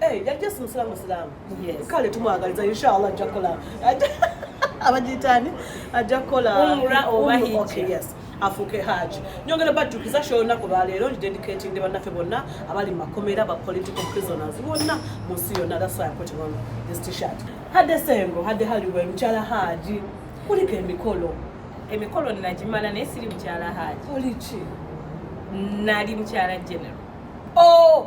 Eh, yali just musiramu musiramu kale tumwagaliza inshallah ajja kukola abagiyitani ajja kukola afuuke haji nyongera bajjukiza sho olunaku lwaleero ndidedicatingde bannaffe bonna abali mumakomera ba political prisoners bonna mu nsi yonna thaswayakotiwano this t-shirt hadde sengo hadde haliwe mukyala haji kuliko emikolo emikolo nagimala naye siri mukyala haji oliki nali mukyala general oh!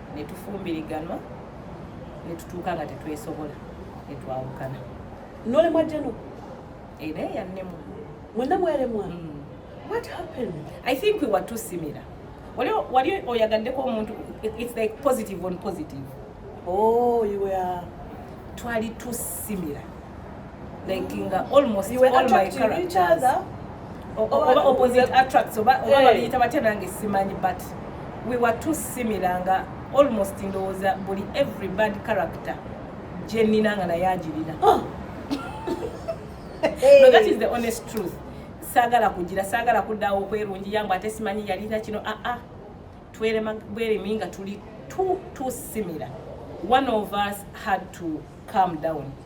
ne tufumbiriganwa ne tutuuka nga tetwesobola ne twawukana nolemwa jeno era eyannemu mwena mweremwa mm. what happened i think we were too similar wali oyagaddeko omuntu it's like positive on positive oh you were twali too similar like nga almost you were all my characters oba opposite attracts oba oba eh. babiyita batya nange simanyi but we were too similar nga almost ndowooza buli every bad character gyenina nga naye agirina ah. no that is the honest truth saagala kugira saagala kuddawo okwerungi yangu ate simanyi yalina kino aa ah, ah. twerema bweremi nga tuli too too similar one of us had to calm down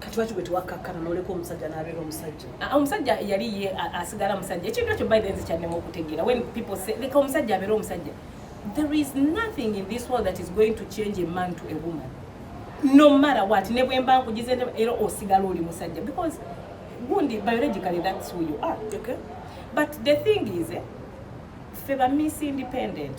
kati lwaki gwe tewakkakkana n'oleka omusajja n'abeera omusajja ah, omusajja yali ye asigala musajja ekintu ekyo biden zikyannema okutegeera when people say leka omusajja abeera omusajja there is nothing in this world that is going to change a man to a woman no matter what ne bwemba nkugize era osigala oli musajja because gundi biologically that's who you are okay. but the thing is eh, fe ba miss independent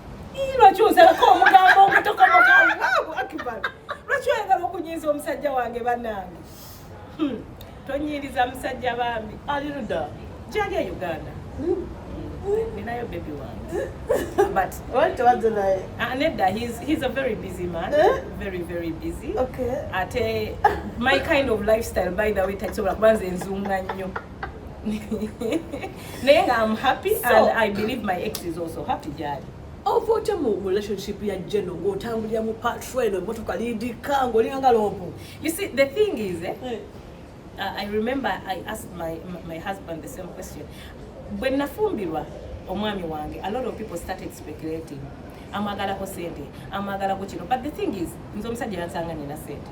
lwaki ozalako omugambo ogutokomoka allahu akbar lwaki oyagala okunyiiza omusajja wange banange hmm. tonyiiriza musajja bambi aliruda gyali e uganda ninayo baby wange but watowadde naye ah, nedda he's a very busy man eh? very very busy ate my kind of lifestyle by the way takisobola kuba nze nzunga nnyo naye nga am happy so, and i believe my ex is also happy gyali ova otya mu relationship ya jeno ng'otambulira mu patro eno emotoka lindika ng'olinga nga loopu you see the thing is eh, eh. uh, i remember i asked my, my husband the same question bwe nafumbirwa omwami wange a lot of people started speculating amwagalako sente amwagalako kino but the thing is nze omusajja yansanga nina sente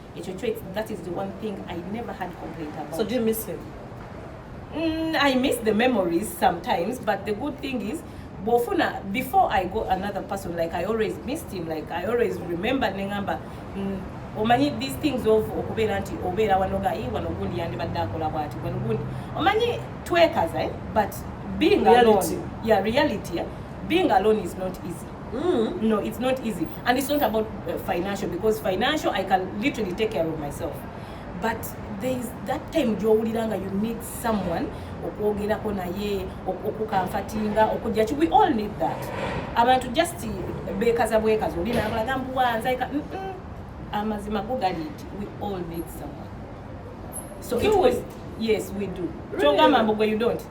ekyo kyo that is the one thing i never had complaint about so do you miss him mm, i miss the memories sometimes but the good thing is bwofuna before i go another person like i always missed him like i always remember nengamba mm, omanyi these things of okubeera nti obeera wanoga i wano gundi yandibadde akola bwati wano gundi omanyi twekaza eh? but being reality. alone yeah reality eh? being alone is not easy Mm. No, it's not easy. And it's not about uh, financial because financial I can literally take care of myself. But there is that time gyowuliranga you need someone okwogerako naye okukamfatinga okujja ki we all need that abantu just bekaza bwekaza oli nabalaga mbuwanza amazima go gali nti we all need someone so do it was, yes we do really? kyogamba mbu gwe you don't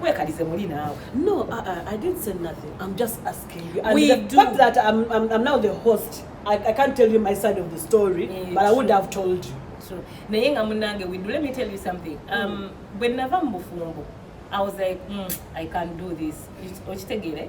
wekalize muli naawe no uh, uh, i didn't say nothing i'm just asking you and we the do. fact that I'm, I'm, i'm now the host I, i can't tell you my side of the story yeah, but i would have told you naye nga munange we do let me tell you something um, mm. bwe nava mu bufumbo i was like mm, i can't do this okitegeere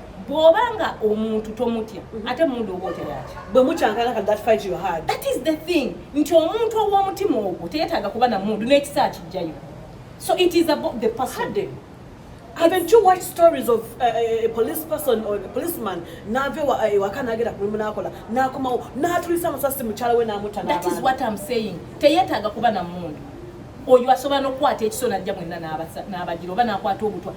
bwoba nga omuntu tomutya mhm. ate mundu oba oteyaki bwe mukyankana kati that fight you had that is the thing nti omuntu ow'omutima ogwo teyetaaga kuba na mundu n'ekisa kijjayo so it is about the person Hade. Haven't you watched stories of uh, uh, a police person or a policeman nave wa uh, wakana agera kulimu nakola nakoma natulisa musasi muchala we namuta That is what I'm saying. Teyetaga kuba na mundu. Oyo asobola nokwata ekisona ajja mwenna n'abasa n'abajira oba n'akwata obutwa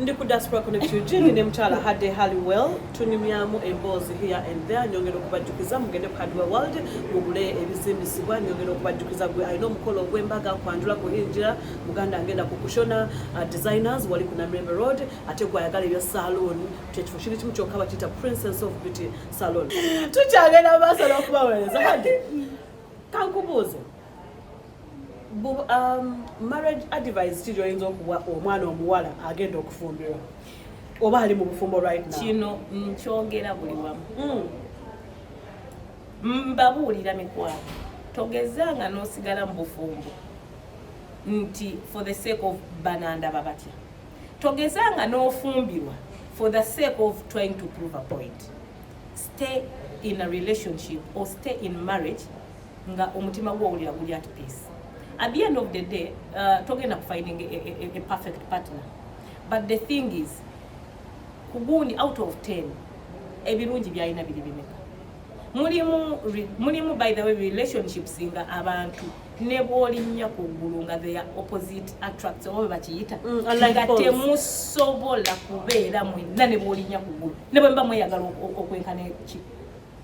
ndi ku diaspora connection jindi ne mukyala hade halliwell tunyumyamu emboozi here and there nyongera okubajjukiza mugende ku hardware world mugule ebizimbisibwa nyongera okubajjukiza gwe alina omukolo ogw'embaga kwanjula kuhingira muganda agenda ku kushona uh, designers wali ku namirembe road ate gwayagala ebya saloon kyekifo kiri kimu kyokka bakiyita princess of beauty salon tukyagenda mu maaso n'okubaweereza hade kankubuuze Um, marriage advice ki gyoyinza okuwa omwana omuwala agenda okufumbirwa oba ali mu bufumbo right now kino nkyogera mm, buli wamu mm. mbabuulira mikwano togezanga n'osigala mu bufumbo nti for the sake of banandaba batya togezanga n'ofumbirwa for the sake of trying to prove a point stay in a relationship or stay in marriage nga omutima gwo owulira guli at peace at the end of the day uh, togenda kufinding a, a, a perfect partner but the thing is kugundi out of 10 ebirungi byalina biri bimeka mulimu mulimu by the way relationships nga abantu nebwolinnya ku ggulu nga their opposite attracts oba bwe bakiyita mm, nga temusobola kubeera mwenna nebwolinnya ku ggulu ne bwe mba mweyagala okwenkana ki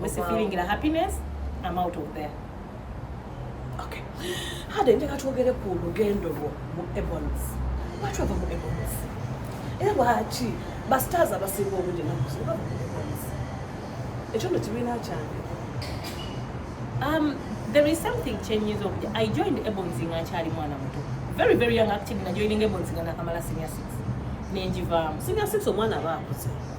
Missy feeling la happiness. I'm out of there. Okay. Hade njaka twogere ku lugendo lwo mu Ebons. Watu ava mu Ebons. Era lwaki basitaazi abasinga obudde naku zino bava mu Ebons. Ekyo nno kibiina kyange. Um, there is something changes of I joined Ebons nga nkyali mwana muto. Very very young active na joining Ebons nga nakamala senior six. Nenjivaamu. Senior six omwana aba akuze.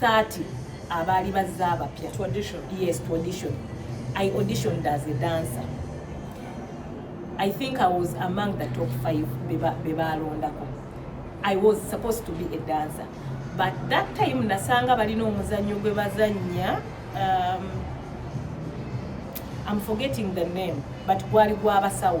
30 abaali bazze abapya yes tradition i auditioned as a dancer i think i was among the top 5 bebaalondako i was supposed to be a dancer but that time nasanga balina omuzannyo gwe bazannya um, i'm forgetting the name but gwali gwabasawo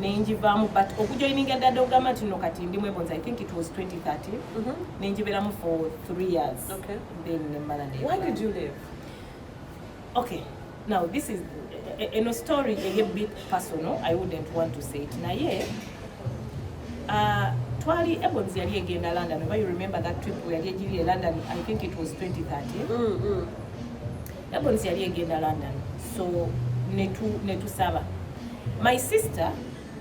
nenjivaamu but okujoininga dada ogamba nti no kati ndi mwebonza i think it was 2013 mm -hmm. nenjibeeramu for three years okay. then nemmala why did you live okay now this is e, e, eno story eye bit personal i wouldn't want to say it naye uh, twali ebons yali egenda london oba you remember that trip yali egiri e london i think it was 2013 mm -hmm. Labonsi yali egenda London so netu netusaba my sister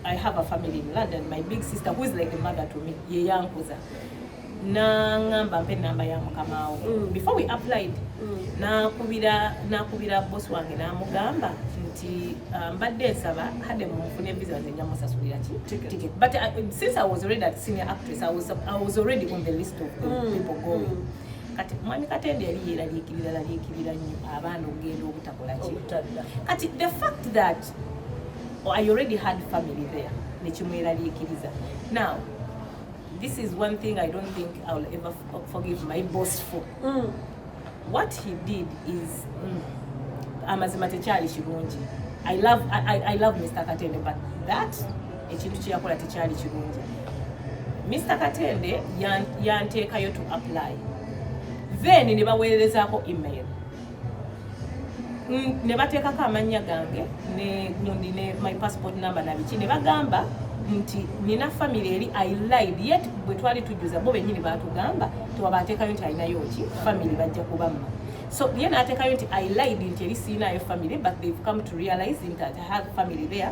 I have a family in London my big sister who is like a mother to me ye yankuza nangamba mpe namba ya mukamaawo mm. before we applied mm. nakubira nakubira boss wange namugamba nti uh, mbadde um, nsaba hade munfune visa nze nja musasulira ki ticket but uh, since I was already a senior actress I was, I was already on the list of the mm. people going mm. kati mwami katende yali yeraliikirira laliikirira nnyo abaana okugenda obutakola ki kati the fact that oh, i already had family there nekimweraliikiriza now this is one thing i don't think i will ever forgive my boss for mm. what he did is mm, amazima tekyali kirungi i love, I, I, I love mr katende but that ekintu kyeyakola tekyali kirungi mr katende yanteekayo to apply then ne baweerezaako email ne bateekako amannya gange negundi ne my passport number nabiki ne bagamba nti nina family eri i lied yet bwe twali tujjuza bo benyini batugamba tewaba ateekayo nti alinayo ki family bajja kubamma so ye nateekayo nti i lied nti eri siinayo family but they've come to realize nti i have family there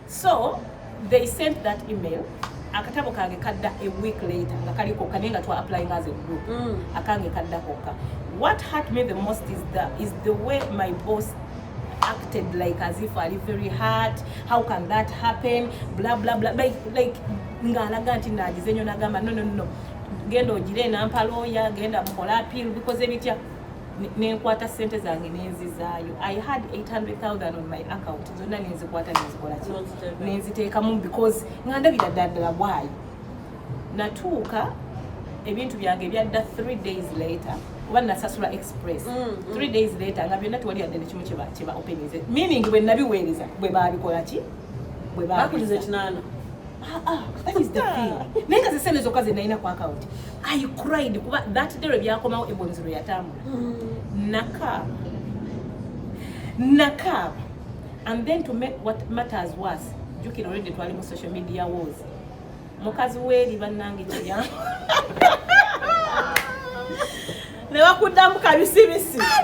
so they sent that email akatabo kange kadda a week later nga kali kokka naye nga twa applying as a group mm. akange kadda kokka what hurt me the most is the, is the way my boss acted like as if ali very hurt how can that happen bla bla bla like, like ng'alaga nti naagize nyo nagamba no no no genda ogire nampa looya genda mukola appeal bikoze bitya nenkwata sente zange nenzizaayo i had 800000 on my account zonna nenzikwata nenzikolaki nenziteekamu because nga ndabira ddaddala bwayi natuuka ebintu byange byadda 3 days later kuba nasasula express 3 mm, mm. days later nga byonna tewali yadde nekimu kyeba openinze meaning bwe nabiweereza bwe babikolaki bwe bakuliza ekinana ah, ah, that is the thing naye nga zisente zokka zenalina ku account I cried kuba that day lwe byakomawo ebwenzi lwe yatambula mm. nakaaba nakaaba and then to make what matters worse jukira already twali mu social media wars mukazi weeri bannange kirya ne bakuddamu kabisibisi ah,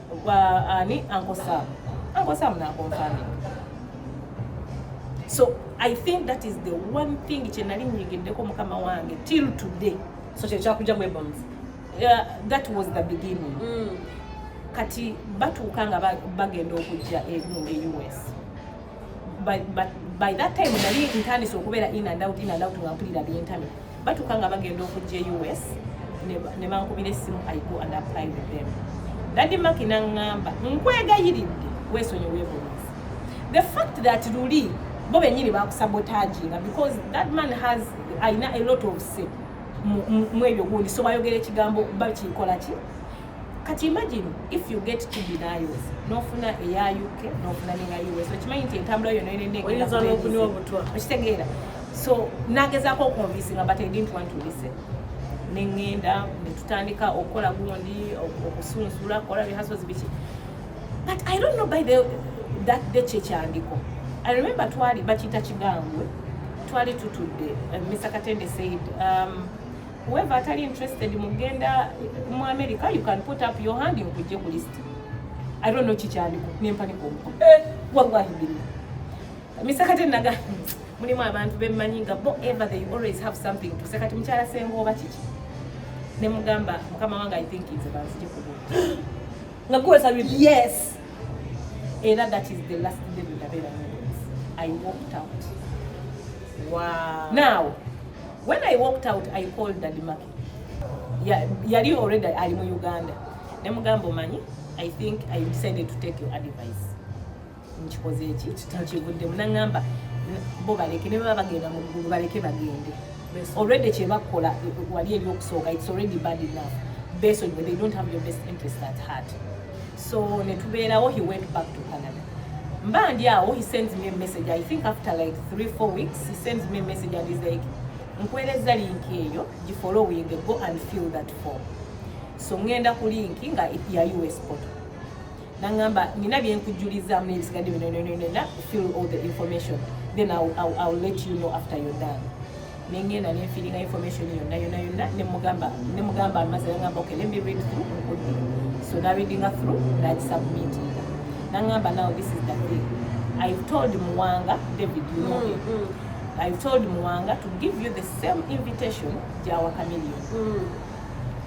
Kwa ani Uncle Sam. Uncle Sam na confirming. So I think that is the one thing kye nali nyigiddeko mukama wange till today. So kye kyakuja mu bombs. Yeah, that was the beginning. Mm. Kati batuuka nga bagenda okujja e, mu US. by, by, by that time nali ntandise okubeera in and out in and out nga mpulira byentami batuuka nga bagenda okujja e us ne bankubira essimu i go and apply with them daddy maki naŋŋamba nkwegayiridde weesonyi weebulunzi the fact that luli bo benyini bakusabotaginga because that man has alina a lot of say mwebyo gundi so bayogera ekigambo bakikolaki kati imagine if you get two denials nofuna eya uk nofuna neya us okimanyi nti entambula yona enenekitegeera so nagezako okonvisinga but i didn't want to listen neŋŋenda netutandika okukola gundi okusunsula kola rehasozi biki but i don't know by the that day kyekyandiko i remember twali bakiyita kigambwe twali tutudde uh, mr katende said um, whoever atali interested mugenda mu america you can put up your hand nkujje ku list i don't know kikyandiko nempanika omuko eh, wallahi billah misekate naga mulimu abantu bemmanyi nga bo ever they always have something to say kati mukyala senga oba kiki ne mugamba mukama wange i think is about nze ku nga kuwe sabi yes era that is the last day ndabera i walked out wow now When I walked out, I called Daddy Maki. Yali already ali mu Uganda. Ne mugambo manyi, I think I decided to take your advice. Nkikoze eki, nkivudde munangamba bo baleke ne baba bagenda mu ggulu baleke bagende. Already kye bakola wali eri okusooka, it's already bad enough. Based on they don't have your best interest at heart. so ne tubeerawo he went back to canada mba ndi awo he sends me a message i think after like three four weeks he sends me a message and he's like nkuweereza linki eyo gifollowing go and fill that form so ngenda ku linki nga ya us poto nangamba nina byenkujulizaamu nebisigadde bino fill all the information then I'll, I'll, I'll let you know after you're done nengenda nenfiringa information yonna yonna yonna nemugamba nemugamba amaze nangamba okay let me read through nkudde so na readinga through nakisubmitinga nangamba now this is the thing i've told muwanga david you know mm, mm. i've told muwanga to give you the same invitation gyawa camilion mm.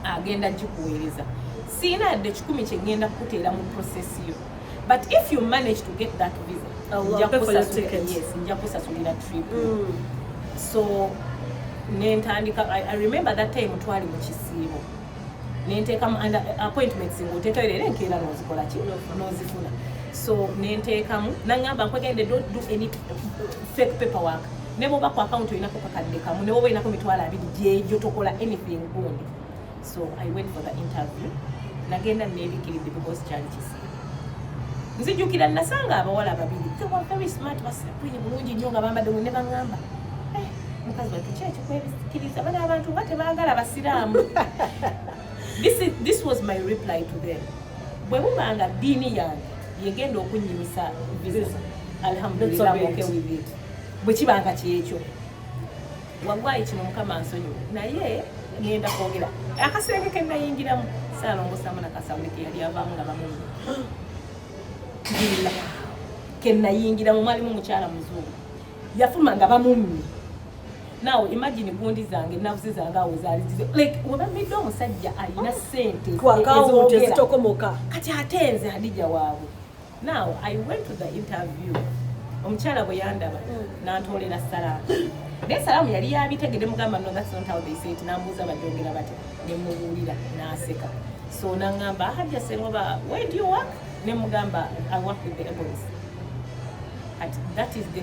agenda gikuweereza siina yadde kikumi kyengenda kukuteera mu process yo but if you manage to get that visa nja kusasulira trip mm. so nentandika I, i remember that time twali mu kisiibo nenteeka mu under appointments ngaoteekayo leero enkeera nozikola ki nozifuna so nenteekamu nangamba nkwegende don't do any fake paper work ne bwoba ku akawunti olinako kakadde kamu ne bwoba olinako mitwalo abiri gyegyo tokola anything gundi so i went for the interview nagenda nebikiridde because kyali kisiibo nzijukira nasanga abawala babiri they were very smart basakwire bulungi nnyo nga bambadde wene baŋŋamba eh, mukazi watu ki ekikwebikiriza bana abantu nga tebaagala basiraamu this, is, this was my reply to them bwe buba nga ddiini yange yegenda okunnyimisa visa alhamdulillah okay with it bwe kiba nga kyekyo wallahi kino mukama nsonyiwa naye ngenda kwogera akasenge ke nayingiramu saalongosamu nakasawuli ke yali avaamu nga bamumu bila ke nayingiramu mwalimu mukyala muzungu yafuluma nga bamummi nawe imagine gundi zange navuzi zange awo zaali zize like webamidde omusajja alina sente kati ate nze hadija waabwe Now I went to the interview. Omukyala bwe yandaba mm. n'antoolera salaamu. Naye salaamu yali yabitegede mugamba no that's not how they say it n'ambuuza bagyongera batya ne mubuulira n'aseka. So n'angamba Hajja Sengoba where do you work? Ne mugamba I work with the Ebonies. That is the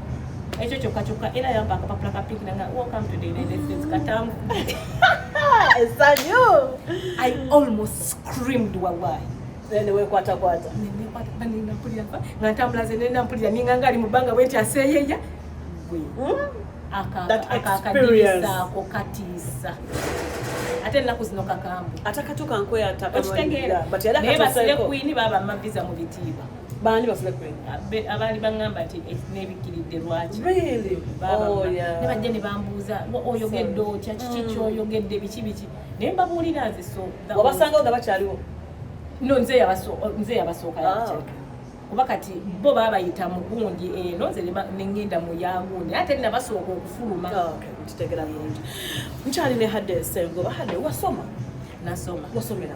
ekyo kyokka kyokka era yamba akapapula ka pink nanga welcome to the united states katamu esanyu i almost screamed wallahi newekwatakwata nga ntambula ze nenda mpulira ninga ngaali mu bbanga bwe nti aseeyeya hmm? akakadiisaako katiisa ate ennaku zino kakambwe atakatuka nkweyatakaekitegeera naye basire kwini baba maviza mu bitiibwa baani bafune abaali baŋamba nti eh, nebikkiridde lwaki oh, ne bajja ne bambuuza oyogedde otya kiki mm. kyoyogedde biki biki naye mbabuulira nze so wabasangawo nga bakyaliwo no nze yabasooka ah, kuba kati bo babayita mu gundi eno eh, nze nengenda mu yagundi ate nabasooka okufuluma ah, nkitegera bulungi nkyali ne hade sengoba hade wasoma nasoma wasomera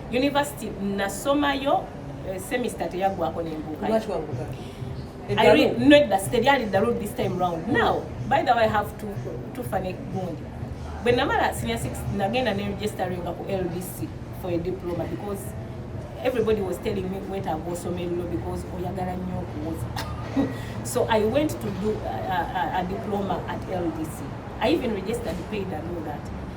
University nasomayo eh, semester teyaggwako nembuuka nedda teryali ddalu this time round now by the way have to tufane gundi bwe namala senior six nagenda ne registeringa ku ldc for a diploma because everybody was telling me wetaaga osoma erulo because oyagala nnyo okuwoza so i went to do a, a, a diploma at ldc i even registered paid and all that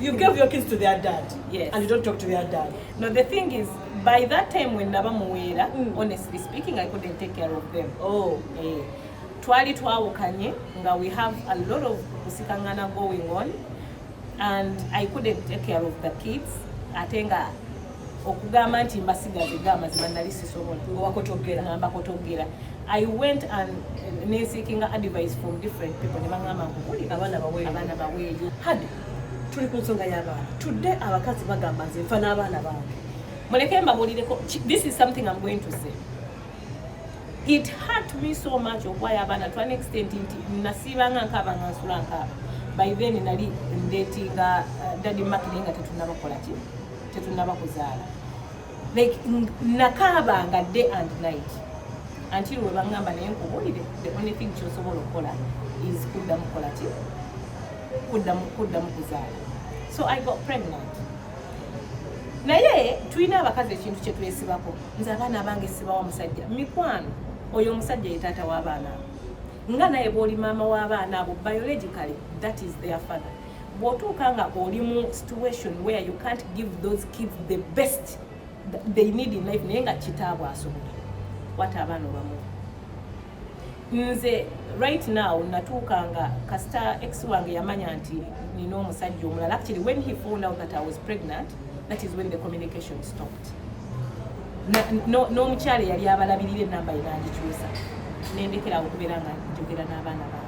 You gave your kids to their dad. Yes. And you don't talk to their dad. No, the thing is, by that time when Naba Muwera, mm. honestly speaking, I couldn't take care of them. Oh. Eh. Twali twawukanye, nga we have a lot of kusikangana going on, and I couldn't take care of the kids. Atenga okugamba nti mbasigaze ga mazima nali sisobola owakotogera ngamba kotogera i went and eh, neseekinga advice from different people ne baŋamba nkukulika abaana baweeyo tuli ku nsonga y'abaana tudde abakazi bagamba nze nfa n'abaana bange muleke mbabuulireko this is something am going to say it hurt me so much okuwayo abaana to an extent nti nasiibanga nkaaba nga nsula nkaaba by then nali ndetinga uh, dadi makine nga tetunabakola ki tetunabakuzaala like nakaabanga day and night until we bangamba naye nkubulire the only thing kyosobola okukola is kuddamu kukola ki kuddamu kuddamu kuzaala so i got pregnant naye tulina abakazi ekintu kyetwesibako nze abaana bange sibawa musajja mikwano oyo omusajja ye taata w'abaana abo nga naye bw'oli maama w'abaana abo biologically that is their father bwotuuka nga oli mu situation where you can't give those kids the best they need in life naye nga kitaabwe asobola wata abaana obamu nze right now natuuka nga kasita ex wange yamanya nti nina omusajja omulala actually when he found out that i was pregnant that is when the communication stopped n'omukyala eyali abalabirira enamba yenandikyusa nendekerawo okubeera nga njogera n'abaana ba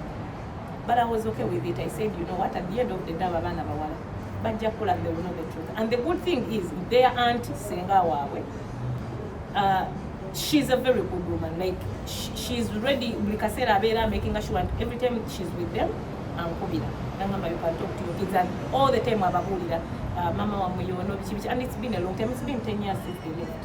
but I was okay with it I said you know what at the end of the day aba baana bawala bajja kula they will know the truth and the good thing is their aunt senga waabwe uh, she's a very good woman like she, she's ready buli kaseera abeera making sure and every time she's with them ankubira nangamba you can talk to your kids and all the time ababuulira uh, mama wamwe yono biki biki and it's been a long time it's been 10 years since they left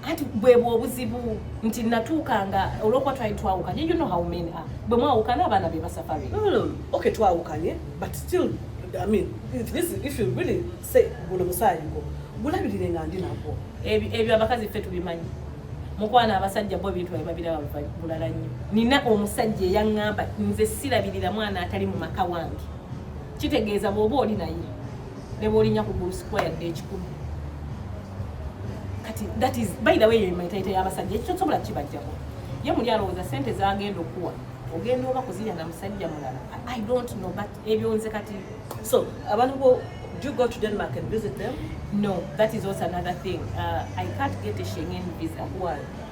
kati bwebwe obuzibu nti natuukanga olwokuba twali twawukanye you know how men are bwe mwawukana abaana be basafari no, no. okay twawukanye but still i mean if, this, if you really say guno musaayi gwo gulabirire nga ndi nagwo ebyo abakazi ffe tubimanyi mukwana abasajja bo ebintu babiraba bulala nnyo nina omusajja eyaŋŋamba nze sirabirira mwana atali mu maka wange kitegeeza bw'oba oli naye ne bw'olinya ku ggulu sikuwa yadde ekikumi kati that is by the way eyo emitayita y'abasajja ekyo tosobola kibajjako ye muli alowooza sente zagenda okuwa ogenda oba kuzirya na musajja mulala i don't know but ebyo nze kati so abantu bo do you go to denmark and visit them no that is also another thing uh, i can't get a shengen visa why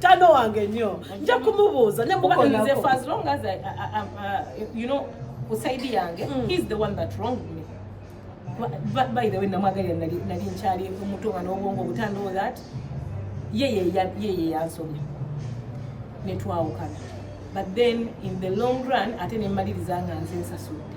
tano wange nyo nja kumubuuza nemubanze for as long as I, I, I, uh, you know kusaidi yange mm. he's the one that wronged me by the way namwagalira nali nkyali omutu nga n'obwongo obutandoo that yeye yansomya netwawukana but then in the long run ate nemmaliriza nga nze nsasudde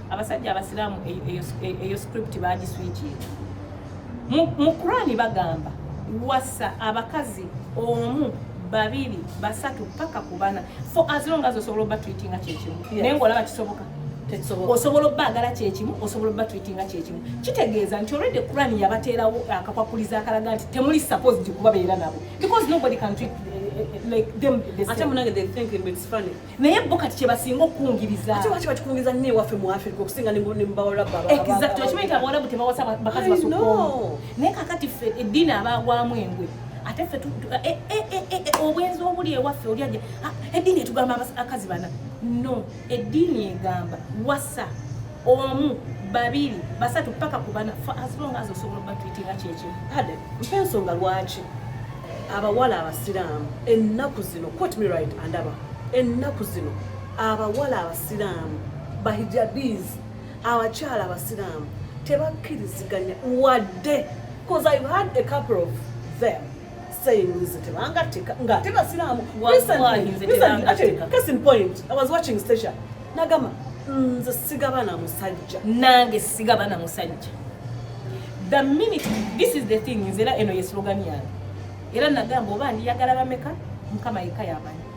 abasajja abasiraamu eyo script bagiswikiira mu kurani bagamba wasa abakazi omu babiri basatu paka ku bana for as long as osobola oba tweetinga kyekimu naye ngaolaba kisoboka osobola obbagala kyekimu osobola obba tweetinga kyekimu kitegeeza nti olwedde kurani yabateerawo akakwakuliza akalaga nti temuli supposed kubabeera nabo because nobody can treat eh, eh, eh, like them the same. naye bo kati kyebasinga okukungiriza ate waki bakikungiriza nnyo ewaffe mu afirika okusinga ne mu bawalabu exactly okimanyi nti abawalabu tebawasa bakazi basukoomu naye kakati ffe eddiini abaagwamu engwe ate ffe eh, eh, eh, obwenzi obuli ewaffe oli aja ah, eddiini etugamba abakazi bana no eddiini egamba wasa omu babiri basatu paka ku bana for as long as osobola obatwitinga kyekyo kale mpa ensonga lwaki abawala abasiraamu ennaku zino quote me right andaba ennaku zino abawala abasiraamu bahijabiz abakyala abasiraamu tebakkiriziganya wadde bcause ive had a couple of them saying nze tebangatteka ng'ate basiraamu case in point i was watching station nagamba nze sigaba na musajja nange sigaba na musajja the minute this is the thing nze era eno ye slogan yange era nagamba oba ndiyagala bameka mukama yekka yamanyi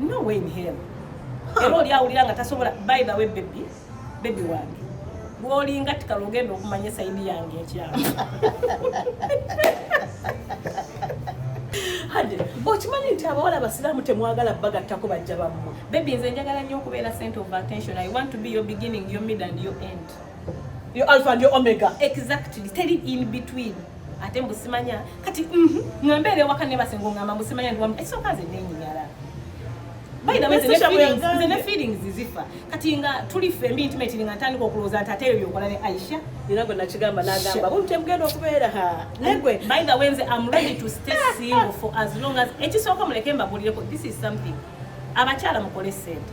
no way in hell era oli awulira nga tasobola by the way baby baby wange gwolinga tikala ogenda okumanya esaidi yange ekyalo hade okimanyi nti abawala abasiraamu temwagala bagattako bajja bammwe bebi nze njagala nnyo okubeera center of attention i want to be your beginning your mid and your end yo alpha ndio omega exactly tell it in between ate mbusimanya kati mhm ngamba ele wakane basengo ngamba mbusimanya ndi wamu ekyo kaze nenyi nyara by the way the feelings the feelings zizifa kati nga tuli fe mbi intimate nga tandika okuloza nti ateyo yokola ne Aisha era gwe nakigamba nagamba buntu emugenda okubeera ha negwe by the way nze am ready to stay single for as long as ekisooka muleke mbabulireko this is something abakyala mukole sente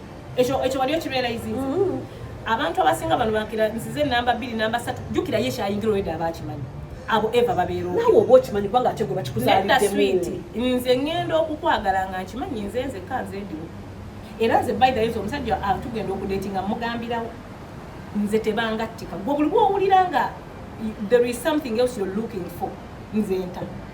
ekyo ekyo wali okirealizinze mm-hmm. abantu abasinga bano bakira nsize namba bbiri namba satu jukira ye kyayingira oyedde aba akimanyi abo eva babeerawo nawe oba okimanyi kubanga ate gwe bakikuzaliddemwiti nze ngenda okukwagala nga nkimanyi nze nze ka nze ndiwo era nze by the yesu omusajja atugenda okudeeti nga mugambirawo nze tebangattika gwe buli bwowulira nga there is something else you're looking for nze nta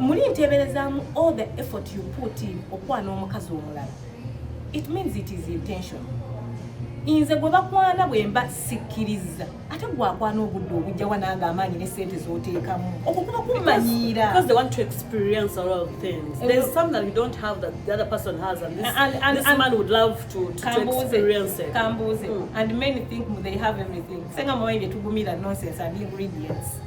muli nteeberezaamu all the effort you put in okwana omukazi omulala it means it is intention nze gwe bakwana bwemba sikkiriza ate gwakwana obudde obujja wanange amaanyi ne sente zoteekamu okwo kuba kumanyiira kambuuze hmm. and many think they have everything senga mwayi bye tugumira nonsense and ingredients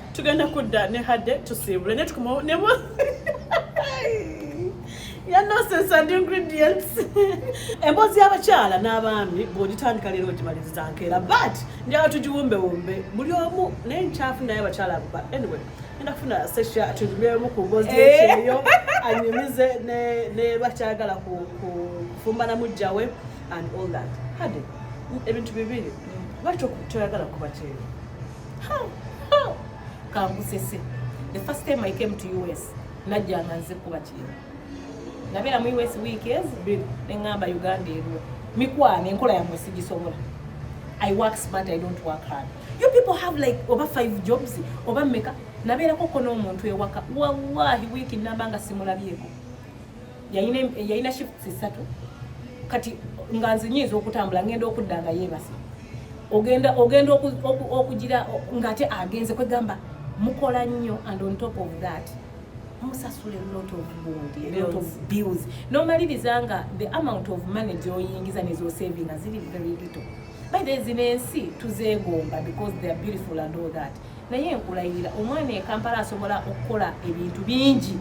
tugenda kudda ne hadde tusiibule ne tukomawo ne ya nonsense and ingredients emboozi y'abakyala n'abaami bw'ogitandika leero ogimaliriza nkeera but njala tugiwumbewumbe buli omu naye nkyafu naye abakyala abuba anyway enda kufuna sesha tunyumyemu ku mboozi ekyeyo eh. anyumize ne bakyagala kufumba na mujja we and all that hade ebintu bibiri lwaki toyagala kuba kyeyo kangusese the first time i came to us najja nga nze kuba kino nabeera mu us week ez bbiri neŋŋamba uganda eriwo mikwana enkola yamwe sigisobola i work smart i don't work hard you people have like oba five jobs oba meka nabeerako ko n'omuntu ewaka wallahi wiiki namba nga simulabyeko yalina shifts ssatu kati nga nze nyinza okutambula ngenda okudda nga yeebase ogenda ogenda okugira ngaate agenze kwegamba mukola nnyo and on top of that musasula lot of bond lot of bills nomaliriza nga the amount of money gyoyingiza nezosavinga ziri very little by the zino ensi tuzeegomba because they are beautiful and all that naye nkulayirira omwana ekampala asobola okukola ebintu bingi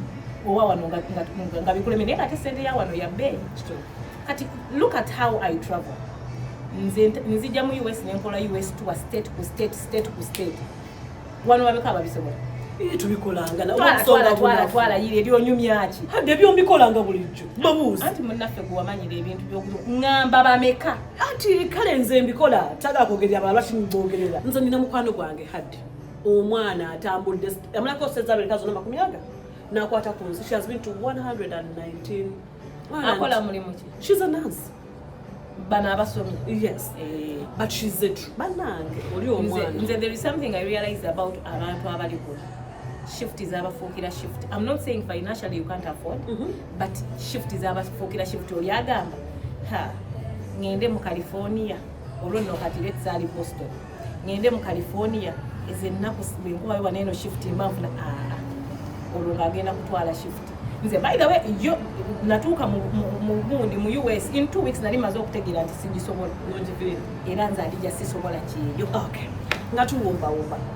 owa wano nga bikuleme naye ngate sente ya wano yabeeyi kati look at how i travel nzija mu us nenkola us tuwa state ku state state ku state wano babeko ababisobola twalatwalatwalayira ebyonyumyaki ebyo mbikolanga bulijjo babuuzi anti munaffe gwewamanyira ebintu byokuamba bameka anti kale nze mbikola taga kwogerera abalala lwaki mbogerera nze nina mukwano gwange haddi omwana atambudde amalako sente abiri kazona makumi aga nakwata ku nsi she has been to 119 akola mulimu ki she's a nurse bana abasomye yes eh. but she's a true banange oli omwana nze there is something i realize about abantu abali kuno shift zabafuukira shift im not saying financially you can't afford mm -hmm. but shift zabafuukira shift oli agamba ha ngende mu california olwo nno kati lets ali boston ngende mu california ezo ennaku bwenkubayo baneeno shift mbanfuna aa ah, ah. olwo ngaagenda kutwala shift nze by the way yo natuuka mugundi mu us in two weeks nali maze okutegeera nti sigisobola era nze alija sisobola kyeyo nga tuwumbawumba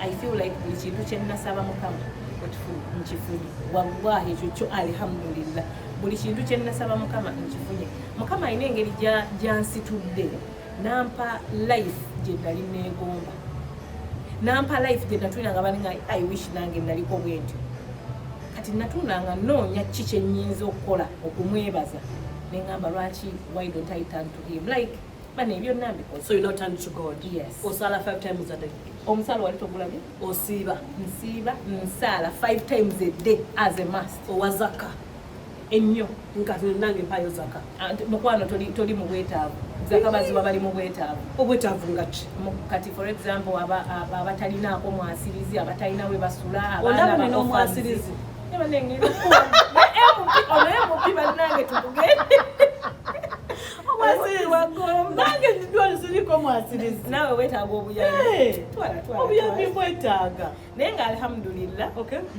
I feel like buli kintu kye nnasaba mukama nkifunye wallahi ekyo kyo alhamdulillah buli kintu kye nnasaba mukama nkifunye mukama alina engeri gyansitudde nampa life gye nali neegomba nampa life gye natulina nga balinga i wish nange naliko bwentyo kati natunda nga noonya ki kye nnyinza okukola okumwebaza ne ŋŋamba lwaki why don't i turn to him like bana ebyo nambi so you not turn to god yes osala five times a day omusala wali togulabye osiiba nsiiba nsala five times a day as a must owazaka ennyo nkati nange mpayo zaka ah, mukwano toli toli mu bwetaavu zaka baziba bali mu bwetaavu obwetaavu nga ki kati for example aba abatalinaako mwasirizi abatalina we basula abaana ba omwasirizi onoyo mubi bannange tugugende nange ndidwali ziriko mwasirizi nawe wetaaga obuyambi obuyambi mwetaaga naye nga alhamdulillah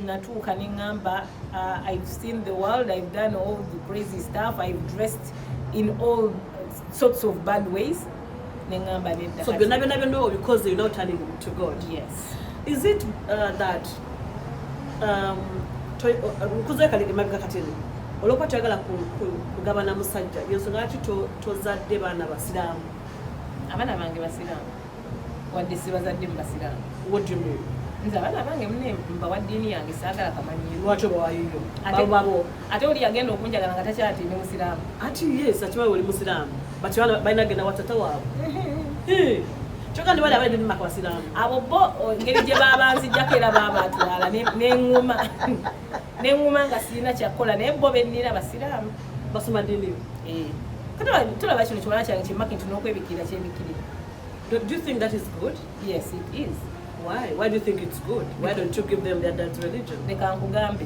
natuuka neŋamba uh, i've seen the world i've done all the crazy stuff i've dressed in all sorts of bad ways neŋamba nedda so byonna byonna byonna obikoze you know turning to god yes is it uh, that um, uh, nkuze kaliri mabega katini olwokuba toyagala kugabana musajja yensonga lwaki tozadde baana basiraamu abaana bange basiraamu wadde sibazadde mu basiraamu nze abaana bange mune mbawa ddiini yange saagala kamanyiiro lwaki obawayiyo abo ate oli yagenda okunjagala nga takyati ndi musiraamu ati yes akimanyi oli musiraamu but bana balina genda watata waabwe kyoka ndi bali abali bimaka basiraamu abo bo ngeri gye babanzijjako era babatwala neŋuma neŋuma nga sirina kyakukola naye bo bennira basiraamu basoma dini eh. tulaba kino kiwana kyange kyemaki nti nokwebikirira kyebikirira do you think that is good yes it is why why do you think it's good why don't you give them their dad's religion leka nkugambe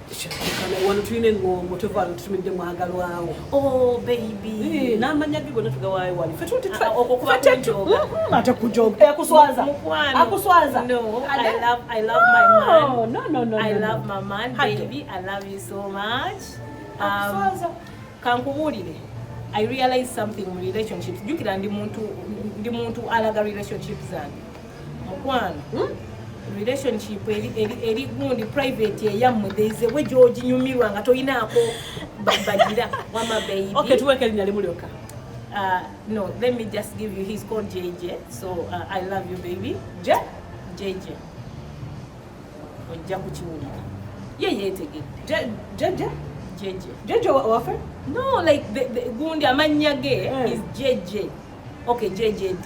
wano tulina eŋŋongo tova tutumidde mwagalwawo oh, baby eh, n'amanya ge gonna tugawaayo wali ate kujoga akuswaza akuswaza kankubuulire i realize something mu relationships jukira ndi muntu alaga relationship zange mukwano hmm? relationship eri gundi private eyammwe theizewe gyoginyumirwa nga tolinaako bagira wama babytuwekelinya limu lyokka Uh, no, let me just give you. He's called JJ. So uh, I love you, baby. J JJ. Ojja kukiwulira. Ye yeetegedde. JJ. JJ. JJ wafe? No, like the, the, gundi amannya ge eh. is JJ. Okay, JJD.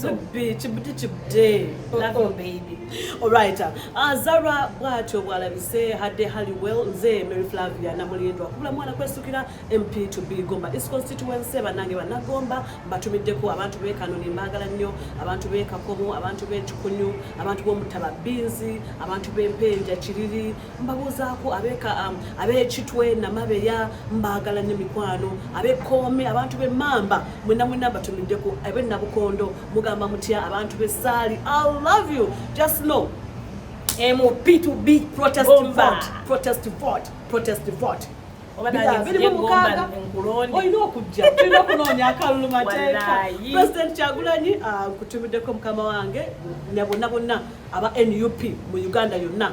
Zubbi kibude kibude oh, love you oh. baby alright uh, ah, Zara bwatyo bwalabise hadde Halliwell nze Mary Flavia namulindwa kubula mwana kwesukira MP to be Gomba East constituency banange banagomba batumiddeko abantu be Kanoni mbagala nnyo abantu be Kakomo abantu be Kikunyu abantu b'omutaba binzi abantu b'empenja kiriri mbabuuzaako abeka um, abekitwe namabeya mbaagala nyo mikwano abekoome abantu bemamba mwena mwena batumiddeko abe nabukondo mugamba mutya abantu besaali i love you just know mp to b protest oh, vote protest vote protest vote olina okujja olina okunoonya akalulu mateeka president kyagulanyi ah, nkutumiddeko mukama wange nabonna bonna aba nup mu uganda yonna